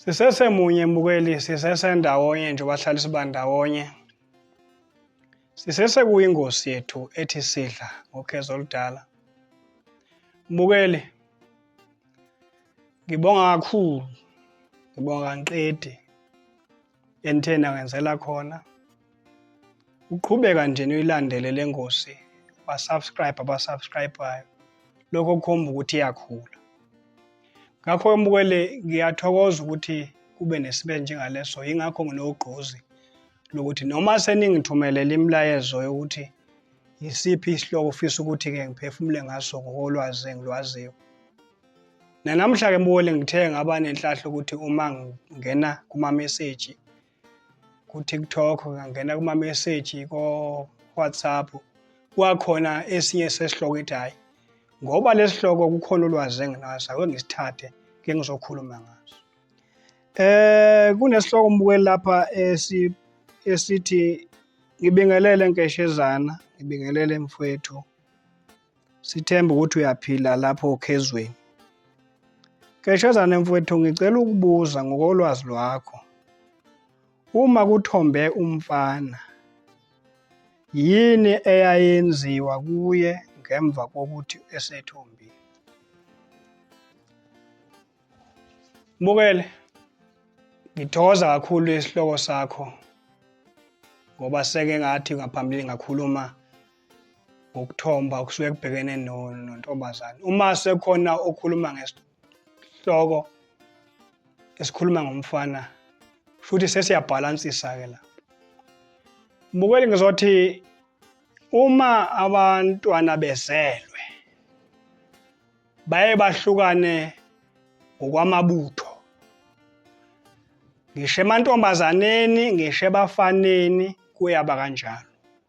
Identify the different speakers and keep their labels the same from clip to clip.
Speaker 1: sisesemunye mbukeli sisesendawonye nje bahlala sibandawonye sisesekuyingosi yethu ethi sidla ngokhezo oludala mbukeli ngibonga kakhulu ngibonga ngiqedi Enitheni angenzela khona. Uqhubeka nje niyilandele le ngosi basubscribe abasubscribayo lokho kukhomba ukuthi iyakhula. Ngakho mbukele ngiyathokoza ukuthi kube nesibe njengaleso yingakho nginogqozi lokuthi noma seningithumelela imilayezo yokuthi yisiphi isihloko ofisa ukuthi-ke ngiphefumule ngaso ngokolwazi engilwaziyo Nanamhla-ke mbuwele ngithe ngaba nenhlahla ukuthi uma ngingena kumameseji ku-TikTok, ngangena kumameseji ko-WhatsApp, kwakhona esinye sesihloko ethi hhayi ngoba lesihloko kukhona ulwazi enginaso ake ngisithathe ke ngizokhuluma ngaso eh kunesihloko mbukeli lapha esi esithi ngibingelele nkeshezana ngibingelele mfwethu Sithemba ukuthi uyaphila lapho okhezweni. Keshazane mfowethu ngicela ukubuza ngokolwazi lwakho. Uma kuthombe umfana yini eyayenziwa kuye ngemva kokuthi esethombile? Mbukele ngithokoza kakhulu isihloko sakho ngoba seke ngathi ngaphambilini ngakhuluma ngokuthomba okusuke kubhekene nontombazane uma sekhona okhuluma ngesihloko esikhuluma ngomfana futhi sesiyabhalansisa-ke la mbukeli ngizothi uma abantwana bezelwe baye bahlukane ngokwamabutho ngisho emantombazaneni ngisho ebafaneni kuyaba kanjalo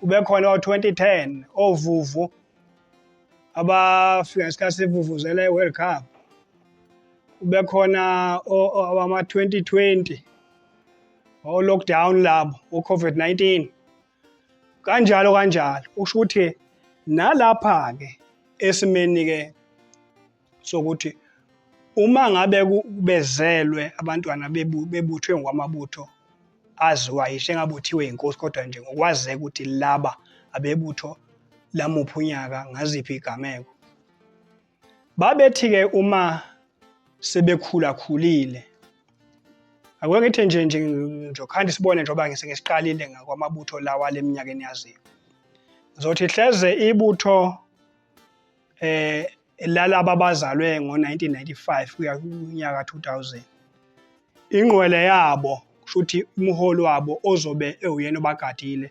Speaker 1: kube khona o-2010 ovuvu abafika ngesikhathi sivuvuzela i-world cup kube khona abama-2020 o-lockdown labo o-covid-19 kanjalo kanjalo usho ukuthi nalapha-ke esimeni-ke sokuthi uma ngabe kubezelwe abantwana bebuthwe ngokwamabutho aziwa yisho engabuthiwe inkosi kodwa nje ngokwazeka ukuthi laba abebutho lamuphi unyaka ngaziphi igameko babethi-ke uma sebekhulakhulile akuke ngithi nje nje ngizokhanda isibone njengoba ngise ngisiqalile ngakwamabutho lawa leminyakeni yaziyo ngizothi hleze ibutho eh lalabo abazalwe ngo-1995 kuya kunyaka 2000 ingqwele yabo kushuthi umholi wabo ozobe ewuyena obagadile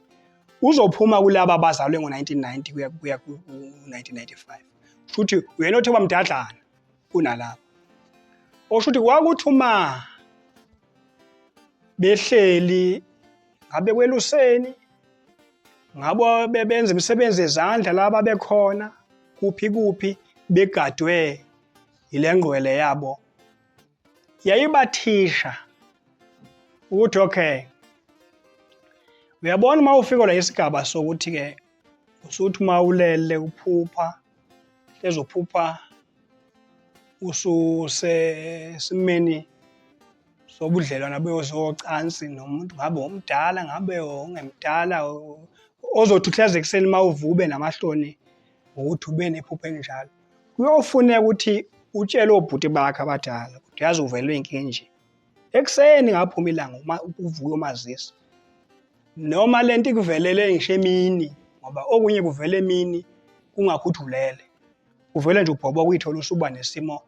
Speaker 1: uzophuma kulaba abazalwe ngo-1990 kuya kuya ku-1995 kushuthi uyena othi wamdadlana kunalabo oshuthi kwakuthi uma behleli ngabe kweluseni ngabo bebenza imisebenzi yezandla laba bekhona kuphi kuphi begadwe yile ngqwele yabo yayibathisha ukuthi okay uyabona uma ufika la isigaba sokuthi-ke usuthi uma ulele uphupha ezophupha ususesimeni sobudlelwana beyozocansi nomuntu ngabe omdala ngabe ongemdala ozothi uhleze ekuseni uma uvube namahloni ngokuthi ube nephupho elinjalo kuyofuneka ukuthi utshele obhuti bakhe abadala ukuthi yazi uvelwe inkinga enje ekuseni ngaphuma ilanga uma uvuke umazisa noma lento ikuvelele ngisho emini ngoba okunye kuvela emini kungakhuthulele uvele nje ubhoboka uyithola usuba nesimo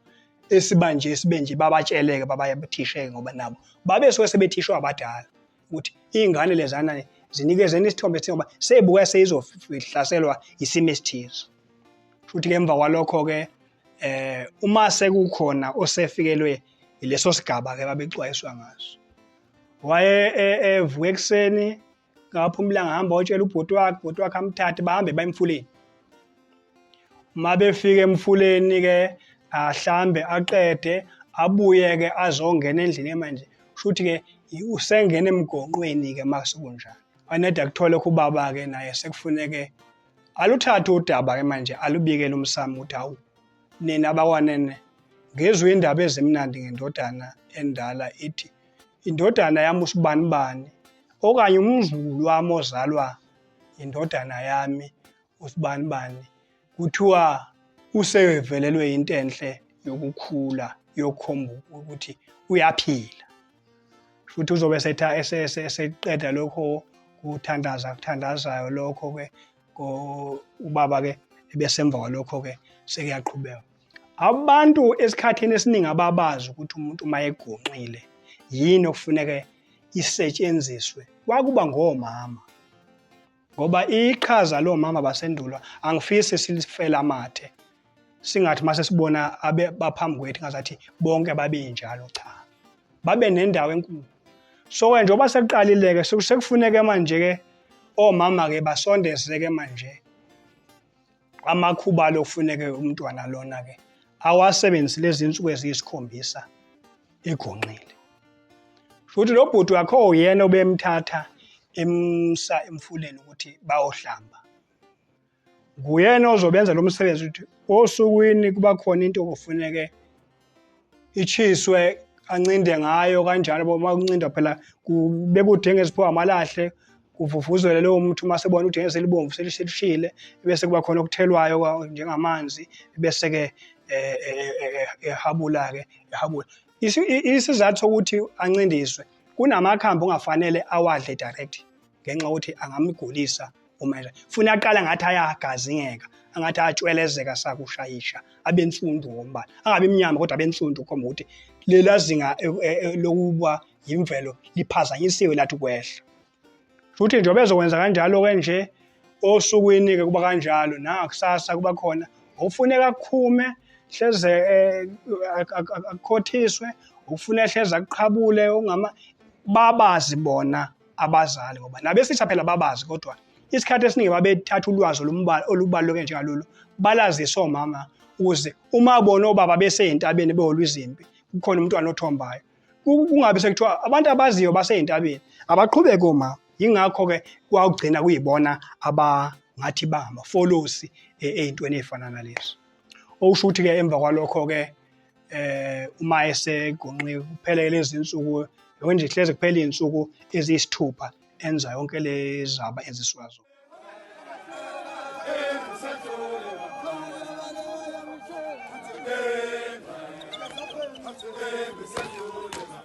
Speaker 1: esiba nje esibe nje babatsheleke babayathisheke ngoba nabo babe suke sebethishwa abadala ukuthi iy'ngane lezana zinikezeni isithombe esithi ngoba seyibuka seyizohlaselwa isimo esithize futhi ke emva kwalokho-ke eh uma sekukhona osefikelwe yileso sigaba-ke babexwayiswa ngaso waye e, evuka ekuseni ngapha umlanga hamba otshela ubhuti wakhe ubhuti wakhe amthathe bahambe bayemfuleni uma befika emfuleni ke ahlambe aqede abuye ke azongena endlini manje shuthi ke usengena emgonqweni ke masekunjalo anede akuthole kubaba ke naye sekufuneke aluthathe udaba ke manje alubikele umsamo ukuthi hawu nina bakwanene ngezwe indaba ezimnandi ngendodana endala ithi indodana yami usibanibani okanye umzukulu wami ozalwa indodana yami usibanibani kuthiwa usevelelwe into enhle yokukhula yokukhomba ukuthi uyaphila futhi uzobe setha eseqeda lokho kuthandaza kuthandazayo lokho ke ubaba ke ebesemva kwalokho ke sekuyaqhubeka Abantu esikhathini esiningi ababazi ukuthi umuntu uma egonqile yini okufuneke isetshenziswe kwakuba ngomama ngoba iqhaza lomama basendulo angifisi silifela amathe singathi mase sibona abe baphambi kwethu ngazathi bonke babe njalo cha babe nendawo enkulu so ke njengoba sekuqalileke sekufuneke manje ke omama ke basondezeke manje amakhubalo okufuneke umntwana lona-ke awasebenzise lezi nsuku eziyisikhombisa egonqile futhi lo bhuti wakho uyena obemthatha emsa emfuleni ukuthi bayohlamba nguyena ozobenza lo msebenzi ukuthi osukwini kuba khona into okufuneke ichiswe ancinde ngayo kanjalo bo uma kuncinda phela kubeka udenge eziphiwa amalahle kuvuvuzele lowo muntu uma sebona ukuthi ngeke selibomvu selishile bese kuba khona okuthelwayo njengamanzi bese-ke eh, eh, eh, ehabula-ke ehabula isizathu sokuthi ancindiswe kunamakhambi ongafanele awadle direct ngenxa yokuthi angamgulisa uma edlala funa aqala ngathi ayagazingeka angathi atshwelezeka sakushayisha abe nsundu ngombala angabe mnyama kodwa abe nsundu khomba ukuthi lela zinga e, e, e, lokuba yimvelo liphazanyisiwe lathi kwehla futhi nje bezokwenza kanjalo ke nje osukwini ke kuba kanjalo na kusasa kuba khona ufuneka akhume hleze akhothiswe ufuna hleze akuqhabule ungama babazi bona abazali ngoba nabesitha phela babazi kodwa isikhathi esiningi babethatha ulwazi olubaluleke njengalolu balazise omama ukuze uma bona obaba beseyintabeni beholwa izimpi kukhona umntwana othombayo kungabi sekuthiwa abantu abaziyo baseyintabeni abaqhubeke omama yingakho-ke kwawugcina kuyibona abangathi bangama-folosi e, ey'ntweni ey'fana nalezi okusho ukuthi-ke emva kwalokho-ke eh uma esegonqe kuphela lezi insuku yonke nje ihleze kuphela izinsuku eziyisithupha enza yonke lezaba eziswazo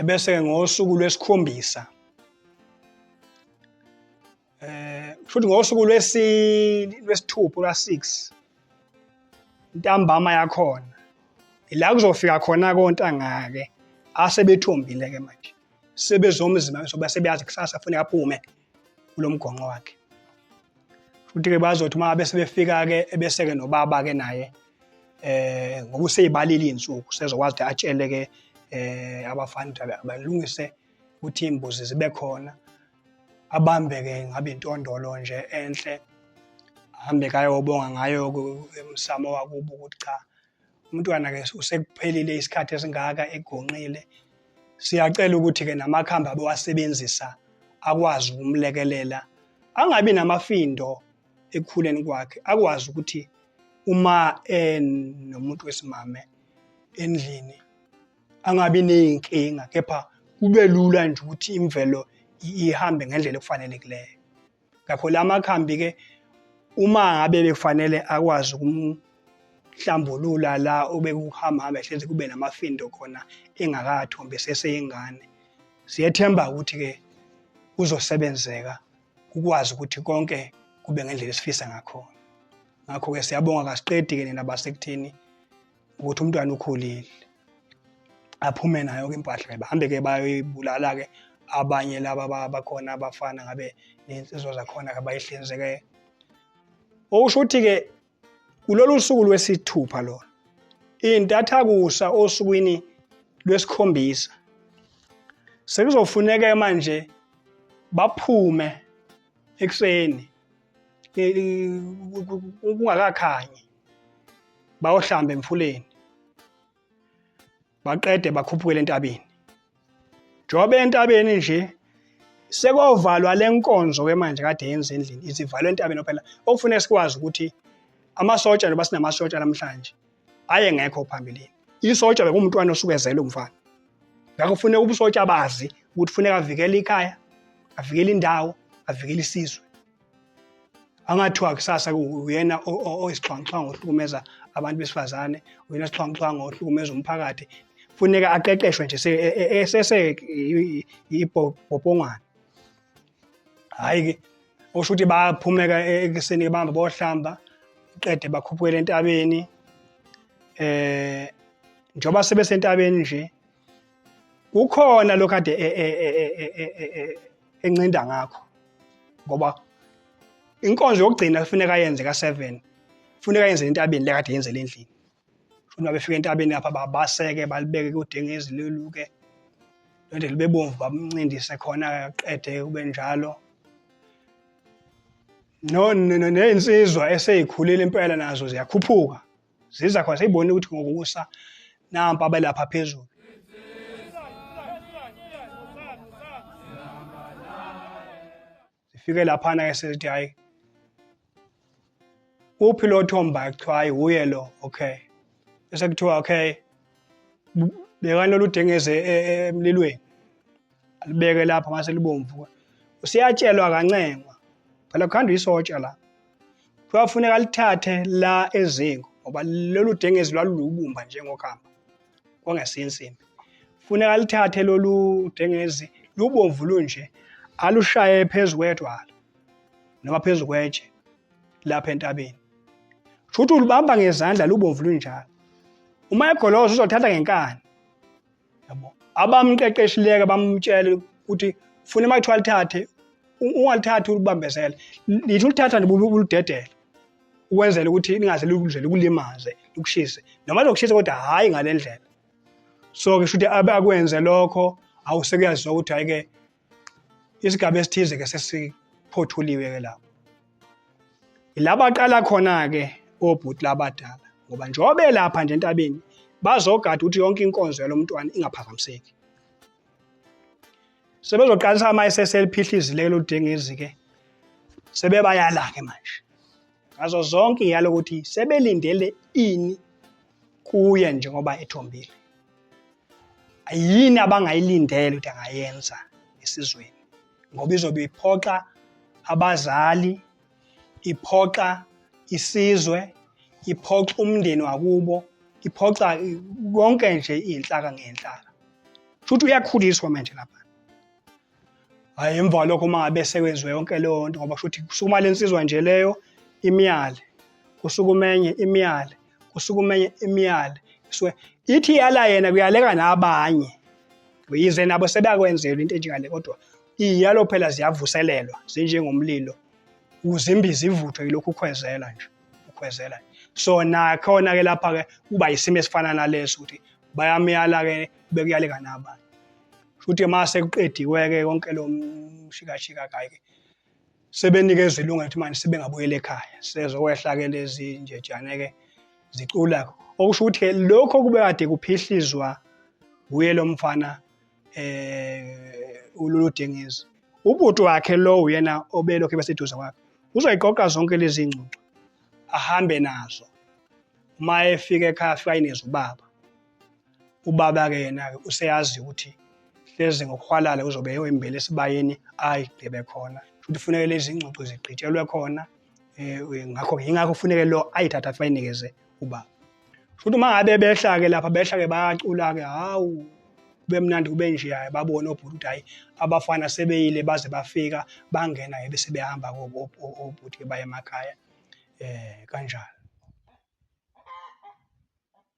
Speaker 1: ebese ngosuku lwesikhombisa eh futhi ngosuku lwesini lwesithupha la 6 intambama yakhona ila kuzofika khona kontanga ke asebethombile ke manje sebezomzima soba sebeyazi kusasa kufanele aphume kulomgonqo wakhe futhi ke bazothi uma bese befika ke ebese ke nobaba ke naye eh ngokuseyibalile insuku sezokwazi ukuthi atshele ke eh abafana abalungise ukuthi imbuzi zibe khona abambeke ngabe intondolo nje enhle ahambe kayobonga ngayo emsamo wakubo ukuthi cha umntwana ke usekuphelile isikhathi esingaka egonqile siyacela ukuthi ke namakhambi abewasebenzisa akwazi ukumlekelela angabi namafindo ekukhuleni kwakhe akwazi ukuthi uma enomuntu wesimame endlini angabi ney'nkinga kepha kube lula nje ukuthi imvelo ihambe ngendlela ekufanelekileyo ngakho la makhambi-ke uma ngabe bekufanele akwazi ukumhlambulula la obekuhamba hambe hlezi kube namafindo khona engakathombi eseseyingane siyethemba ukuthi-ke kuzosebenzeka kukwazi ukuthi konke kube ngendlela esifisa ngakhona ngakho-ke siyabonga kasiqedi-ke nina basekutheni ukuthi umntwana ukhulile aphume nayo ke impahla bahambe ke bayoyibulala ke abanye laba bakhona abafana ngabe nensizwa zakhona ke bayihlinzeke okusho ukuthi ke kulolu suku lwesithupha lona intathakusa osukwini lwesikhombisa sekuzofuneka manje baphume ekuseni kungakakhanyi bayohlamba emfuleni baqede bakhuphukele entabeni njengoba entabeni nje sekovalwa le nkonzo ke manje kade yenza endlini isivalwe entabeni phela okufuneka sikwazi ukuthi amasotsha njengoba sinamasotsha namhlanje ayengekho phambilini isotsha bekumntwana osuke ezele umfana ngakho kufuneka ubusotsha bazi ukuthi kufuneka avikele ikhaya avikele indawo avikele isizwe angathiwa kusasa uyena oyisixhwanguxhwangu ohlukumeza abantu besifazane uyena sixhwanguxhwangu ohlukumeza umphakathi funeka aqeqeshwe nje esese ibhobhongwane hhayi ke okusho ukuthi bayaphumeka e-, ekuseni bahamba bohlamba qede bakhuphukele entabeni eh njengoba sebesentabeni nje kukhona lokho ade e-, e-, encinda ngakho ngoba inkonzo yokugcina kufuneka yenze ka-7 kufuneka yenze entabeni lekade yenzele endlini Shuni babefika entabeni lapha babaseke balibeke kudengezi loluke lento libe bomvu bamncindise khona qede kube njalo no nezinsizwa eseyikhulile impela nazo ziyakhuphuka ziza khona seyibona ukuthi ngokusa nampa abelapha phezulu sifike laphana ke sesithi hayi uphi lo thomba kuthiwa hayi wuye lo okay bese kuthiwa okay bekani loludengeze e, e, emlilweni alibeke lapha mase libomvu usiyatshelwa kancengwa phela kukhanda isotsha la kwafuneka lithathe la ezingo ngoba lolu dengezi lwalulubumba njengokamba kwangesinsimbi funeka lithathe lolu dengezi lubomvu lunje alushaye phezu kwedwala noma phezu kwetshe lapha entabeni shuthi ulibamba ngezandla lubomvu lunjalo uma egoloza uzothatha ngenkani yabo abamqeqeshileke bamtshele ukuthi funa uma kuthiwa lithathe ungalithathi ulibambezele lithi ulithatha nje uludedele ukwenzela ukuthi lingaze likudlele kulimaze likushise noma lokushisa kodwa hhayi ngale ndlela so ngisho ukuthi abe akwenze lokho awusekuyaziwa ukuthi hhayi-ke isigaba esithize ke sesiphothuliwe ke lapho ilaba qala khona ke obhuti labadala ngoba njengoba belapha nje entabeni bazogada ukuthi yonke inkonzo yalomntwana ingaphazamiseki sebezoqalisa ama-ss eliphihlizile eludengezi ke sebebayala-ke manje ngazo zonke iyalo ukuthi sebelindele ini kuye njengoba ethombile yini abangayilindele ukuthi angayenza esizweni ngoba izobe iphoxa abazali iphoxa isizwe iphoxa umndeni wakubo iphoxa konke nje iy'nhlaka ngey'nhlaka shuthi uyakhuliswa manje lapha Hhayi emva kwalokho uma ngabe sekwenziwe yonke leyo nto ngoba shuthi kusukuma le nsizwa nje leyo imiyale kusukumenye imiyale kusukumenye imiyale so ithi yala yena kuyaleka nabanye yize nabo sebeyakwenzelwa into enjengale kodwa iyalo phela ziyavuselelwa zinjengomlilo uzimbi zivuthwe yilokhu ukhwezela nje ukhwezela so nakhona ke lapha ke kuba yisimo esifana naleso ukuthi bayamyala ke bekuyaleka nabanye Futhi uma sekuqediwe-ke konke lo mshikashika kayike sebenikezwa ilungelo ukuthi manje sebengabuyela ekhaya sezokwehla-ke lezi njejane-ke zicula okusho ukuthi-ke lokho kube kade kuphihlizwa wuye lo mfana um ulolu dengezi ubhuti wakhe lo uyena obelokhu ebeseduze kwakhe uzoyiqoqa zonke lezi ngxoxo ahambe nazo uma efika ekhaya afika inezwa ubaba ubaba-ke yena-ke useyazi ukuthi hlezi ngokuhwalala uzobe eyoyimbela esibayeni ayi gebe khona futhi kufuneke lezi ingxoxo zigqitshelwe khona um ngakho yingakho kufuneke lo ayithathe afayinikeze ubaba futhi uma ngabe behla-ke lapha behla-ke bayacula-ke hawu kube mnandi kube nje hhayi babone obhuti ukuthi hhayi abafana sebeyile baze bafika bangena ke bese behamba obhuti-ke baye emakhaya um kanjalo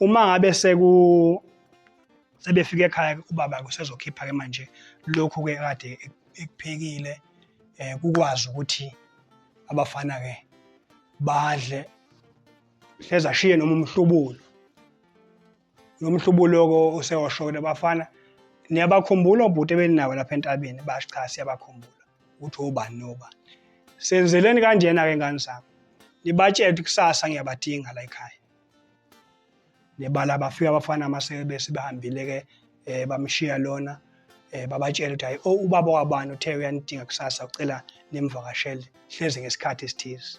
Speaker 1: uma ngabe seku sebefika ekhaya ubaba kusezokhipha ke manje lokhu ke kade ekuphekile eh kukwazi ukuthi abafana ke badle hleze ashiye noma umhlubulo nomhlubuloko usewashokela abafana niyabakhumbula obhuti ebeninawo lapha entabeni basho cha siyabakhumbula ukuthi obani nobani senzeleni kanjena-ke ngane zami nibatshele ukuthi kusasa ngiyabadinga la ekhaya nebala bafika abafana amasebese bahambile-ke um eh, bamshiya lona um babatshele ukuthi hayi o oh, ubaba wabani uthe uyanidinga kusasa ucela nimvakashele hleze ngesikhathi esithize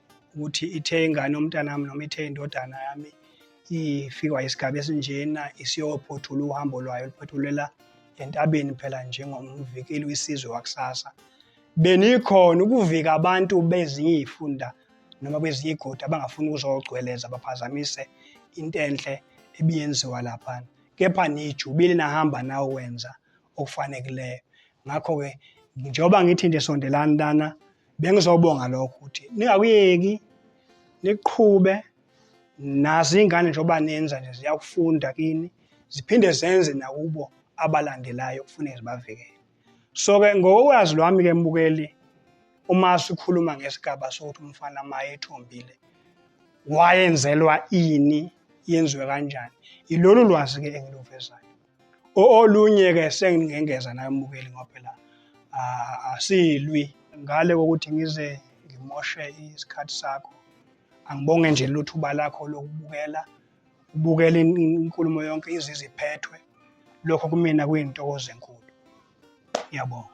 Speaker 1: ukuthi ithe ingane yomntanami noma ithe indodana yami ifikwa isigaba esinjena isiyophothula uhambo lwayo liphothulela entabeni phela njengomvikeli wesizwe wakusasa benikhona ukuvika abantu bezinye iy'funda noma kwezinye iy'godi abangafuni ukuzogcweleza baphazamise into enhle ebiyenziwa laphana kepha nijubile nahamba nawo wenza okufanekileyo ngakho-ke njengoba ngithi nje sondelani lana Bengizobonga lokho ukuthi ningakuyeki niqhube nazo iy'ngane njengoba nenza nje ziyakufunda kini ziphinde zenze nakubo abalandelayo kufuneke zibavikele so-ke ngokwazi lwami-ke mbukeli uma sikhuluma ngesigaba sokuthi umfana ma ethombile wayenzelwa ini yenziwe kanjani yilolu lwazi-ke engiluvezayo Olunye-ke sengingengeza naye umbukeli ngoba phela asilwi ngale kokuthi ngize ngimoshe isikhathi sakho. Angibonge nje lelo thuba lakho lokubukela, ubukela inkulumo yonke ize iziphethwe. Lokho kumina kuyintokozo enkulu. Ngiyabonga.